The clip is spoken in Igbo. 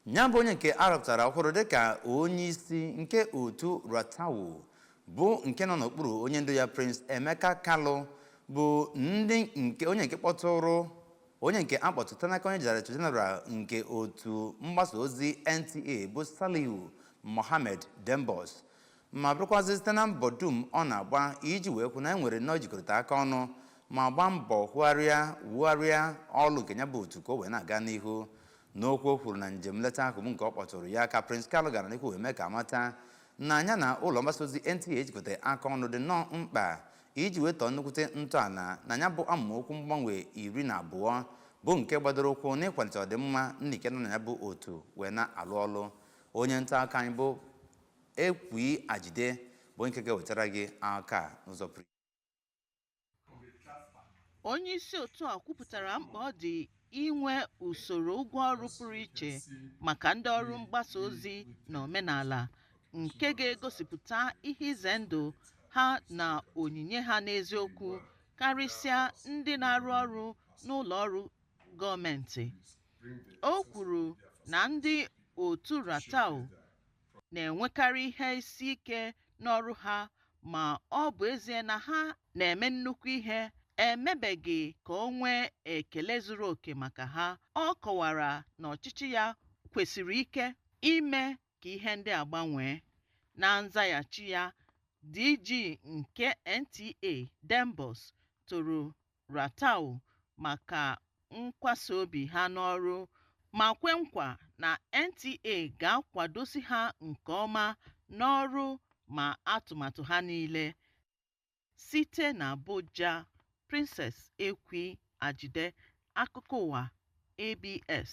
Nya bụ onye nke a rọpụtara ọhụrụ dịka onyeisi nke otu RATTAWU bụ nke nọ n'okpuru onye ndu ya Prince Emeka Kalu bụ ndị nke onye nke kpọtụrụ onye nke akpọtụta n'aka onye Director General nke otu mgbasa ozi NTA bụ Salihu Mohammed Dembos ma bụrụkwazị site na mbọ dum ọ na-agba iji wee hụ na e nwere nnọọ jikọrịta aka ọnụ ma gbaa mbọ hụgharịa wugharịa ọlụ nke ya bụ otu ka o wee na-aga n'ihu n'okwu o kwuru na njem nleta ahụ bụ nke ọ kpọtụrụ ya ka Prince Kalu gara n'ihu wee mee ka a mata na nya na ụlọ mgbasa ozi NTA ijikọta aka ọnụ dị nnọọ mkpa iji wee tọọ nnukwute ntọala na ya bụ amaokwu mgbanwe iri na abụọ bụ nke gbadoro ụkwụ n'ịkwalite ọdịmma ndị nke nọ na ya bụ otu wee na-alụ ọlụ onye nta akụkọ anyị bụ Ekwi Ajide bụ nke ga-ewetara gị akụkọ a n'ụzọ pụrụ iche. Onye isi otu a kwupụtara mkpa ọ dị inwe usoro ụgwọ ọrụ pụrụ iche maka ndị ọrụ mgbasa ozi na omenala nke ga-egosipụta ihe ize ndụ ha na onyinye ha n'eziokwu karịsịa ndị na-arụ ọrụ n'ụlọ ọrụ gọọmentị. O kwuru na ndị otu RATTAWU na-enwekarị ihe isi ike n'ọrụ ha ma ọ bụ ezie na ha na-eme nnukwu ihe e mebeghị ka o nwee ekele zuru oke maka ha ọ kọwara na ọchịchị ya kwụsiri ike ime ka ihe ndị a gbanwee na nzaghachi ya DG nke NTA Dembos toro RATTAWU maka nkwasa obi ha n'ọrụ ma kwe nkwa na NTA ga-akwadosi ha nke ọma n'ọrụ ma atụmatụ ha niile. Site n'Abuja, Princess Ekwi Ajide, Akụkọ Ụwa, ABS.